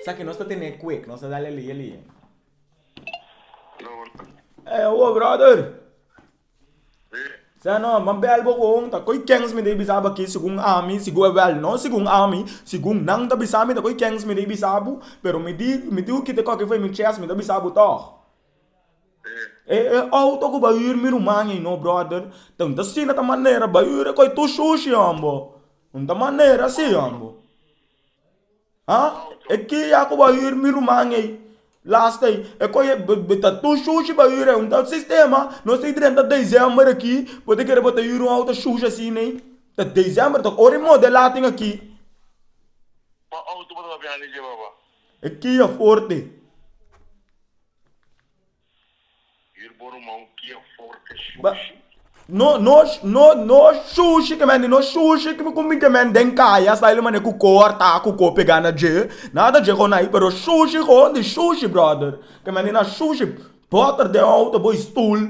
Sa ki nos ta tene kue ku nos ta dal e lie lie. Ey awo brother. Sa no ban bel bo kon ta koy kens mi dei bisa bo aki segun ami segun bel no segun ami segun nan ta bisa mi ta koy kens mi dei bisa bo pero mi di mi di oki te koki fe mi chest mi ta bisa bo tog e e auto ku bai ur mi ruman ei no brother tenta asina ta manera bai ur e koy tur shushi hombo no ta manera asi hombo. Ha e kia ku bo hir mi ruman ei last ei e ku bo ta tur shushi bo hir ei un tal sistema nos tin treinta december aki bo ta kere bo ta hir un auto shushi asina ei ta december tok ora e modela tin aki e kia forte. Yur bo ruman kia forte shushi. No no no no shushi ke mende no shushi ke mi ku minte mende den kaya hasta ele mane ku ko arta ku ko pega na dje na ta dje kon ai pero shushi kon di shushi brother ke mende na shushi boter den outo bo i stul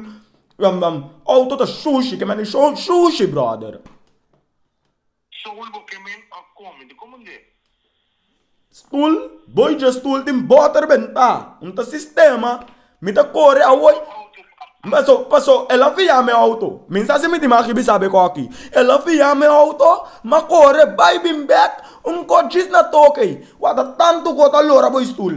outo ta shushi ke mende shushi brother. Soul bo ke men a come di como nde. Stool, boy dje stool tin boter ben ta un ta sistema mi ta kore awoy paso paso el a fia mi auto mi sa si mi tin aki mi sa beko aki el a fia mi auto ma kore bay bin bek un kotshis na toke wata tantu ku ta lora boy stool.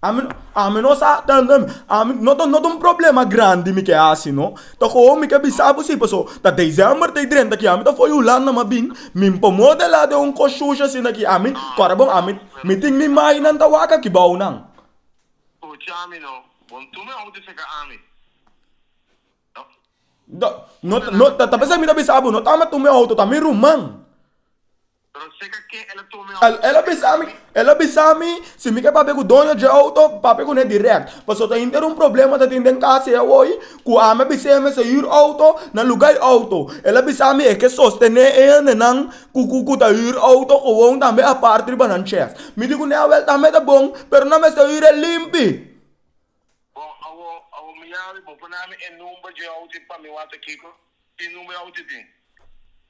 Ami ami no sa ami no ta no ta un problema grandi mi ke hasi no ta koho mi ke bisa bo si paso ta december ta i drenta ki ami ta for hulanda mi a bin mi por modela den un kos shushi asina ki ami kore bo ami mi tin mi imagennan ta wak aki bou nan ta ta bisa mi ta bisa bo no ta mi tur mi auto ta mi ruman. El a bisa mi, el a bisa mi, si mi ke papia ku doño dje outo, papia kuné dirèkt. Pasobra ta henter un problema ta tin den kas ei awoy, ku ami a bis'é mester hür outo na lugá e outo. El a bisa mi e ke sostené e hendenan ku ku ku ta hür outo gewon tambe apart riba nan chèf. Mi di kuné, Awèl, tambe ta bon, pero nan mester hür e limpi. Tin number awo tin tin.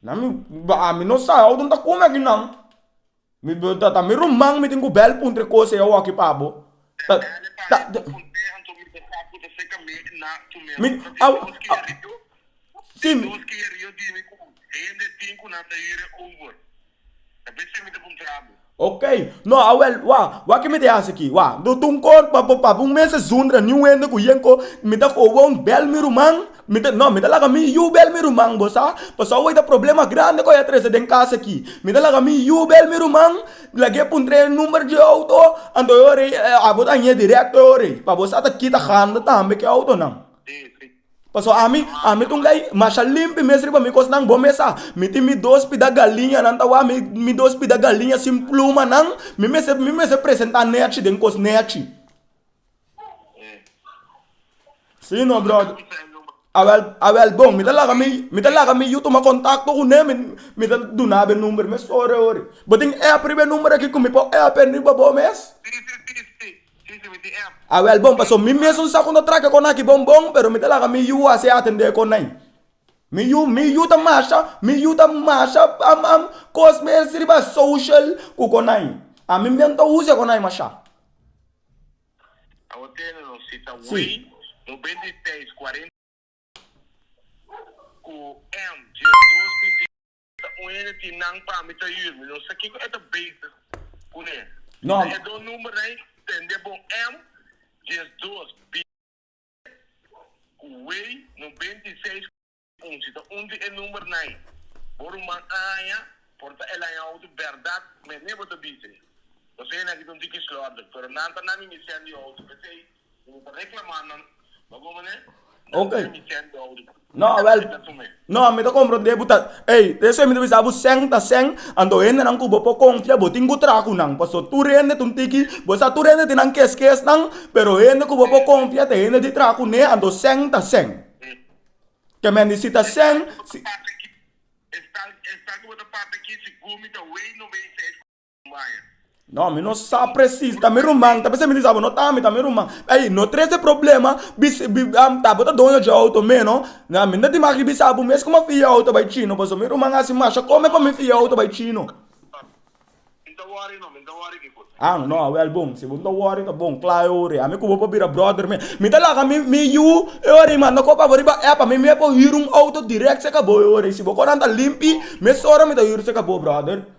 Na mi ba mi no sa awo ta come aki nan mi be ta mi ruman mi tin cu bel punto e cosa awo aki pa bo ta ta mi awo awo si mi. Ta bisti mi ta puntra bo. Ok. No, awel, wak, wak ke mi ta hasi aki, wak. Do ta un kor pa bo papia un mes esundra, ni un hende ku yen ko, mi ta kowoun bèl mi ruman, mi ta, no, mi ta laga mi yu bèl mi ruman, bo sa, pasobra awor ta problema grandi ku a ya trese den kas aki. Mi ta laga mi yu bèl mi ruman, laga e puntra e number di e outo, anto e ora ei, abo ta hañ'é direkto e ora ei, pa bo sa ta kita handa tambe ku e outonan. Sí, sí. Paso ami, ami ta un gay masha limpi mes riba mi kosnan bo mesa. Mi tin mi dos pida galiñanan ta wak, mi mi dos pida galiña sin plumanan, mi mester mi mester presentá nèchi den kos nèchi. Sí no, bròder. Awèl, awèl bon, mi ta laga mi mi ta laga mi yu tuma kontakto ku nan, mi mi ta duna bo e number mes ora e ora. Bo tin èp riba e number akí ku mi por èp riba bo mes? A wel bon, paso mi mes un sa ku no traha kon aki bon bon, pero mi ta laga mi yu hasi e atende kon nan. Mi yu, mi yu ta masha, mi yu ta masha am am kos mes riba social ku kon nan. Ami men ta usa kon nan masha. Si. Ta un hende tin nan pa mi ta hür mi no sa kiko e ta bezig kuné. No. Ta e dos numbernan i tende bon èm dies dos B ku wei no beinti i seis ku un. Si ta un di e numbernan bo ruman a haña por ta el haña outo bèrdat mené bo ta bis'e. Nos hende aki ta un tiki slòrdik pero nan ta na mi mi sendi outo p'esei Okay. No awel. No a mi ta compro de buta. Ey, de eso mi ta bisa bu sen ta sen. Ando hende nan kubo po confia bo tin gutra kunan. Paso tur hende tun tiki. Bo sa tur hende tin nan kes kes nan. Pero hende kubo po confia te hende di tra kune ando sen ta sen. Ke men di si ta sen. Esta esta kubo ta papia ki si gumi ta wey no wey. No, mi no sa presis, ta mi ruman, ta p'esei mi di sa bo, no ta ami, ta mi ruman. Ey, no trese problema, bis, bi, am, ta bo ta doño dje outo meno, na, mi no ta tin maki bisa bo mes kuma fia e outo bai cino, pasobra mi ruman a hasi masha kome pa mi fia e outo bai cino. Ang, no, awel bon, si bo no ta wori ta bon, kla e ora ei, ami ku bo por bira bròder mes. Mi ta laga mi, mi yu e ora ei, mi manda kop abo riba èp, ami mes por hira un outo dirèk cerca bo e ora ei, si bo koran ta limpi, mes ora mi ta hira cerca bo, bròder.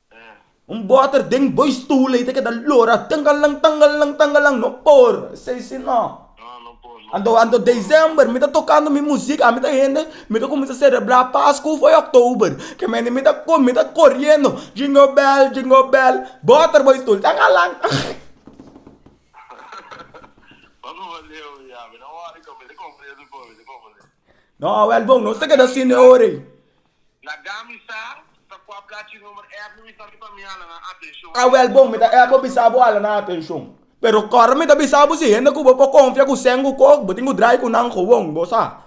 Un boter den boy stoel ey ta keda lora tangalang tangalang tangalang no por esey si no anto anto december mi ta tocando mi music ami ta hende mi ta cuminsa celebra pascu foe october ke mende mi ta com mi ta coriendo jingle bell jingle bell boter boy stoel tangalang tangalang no welbon no ta keda si ne ora ey. La Gami sa ta cu a placi number ep mi bisa mi pa mi hala nan atencion. Ta wel bon mi ta ep bo bisa bo hala nan atencion. Pero core mi ta bisa bo si hende cu bo por confia cu seng cu coke bo tin cu drai cu nan gewoon bo sa.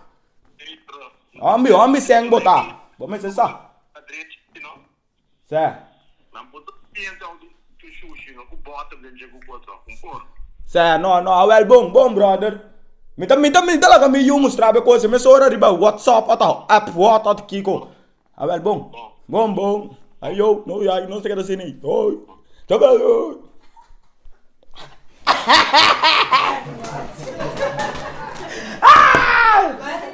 Hombi hombi seng bo ta bo mester sa. Sa. Nan por ta piensa how di su shushi no cu butter den dje cu cosa. Un por. Sa. No, no, awel bon, bon brother. Mi ta, mi ta, mi ta laga mi yu mustrabo e cosa mesora riba WhatsApp ata app word ata kico. Awel bon. Bon. Bon, bon. Ay yo, no ya, no se keda así ni. Oy. Ta bay oy.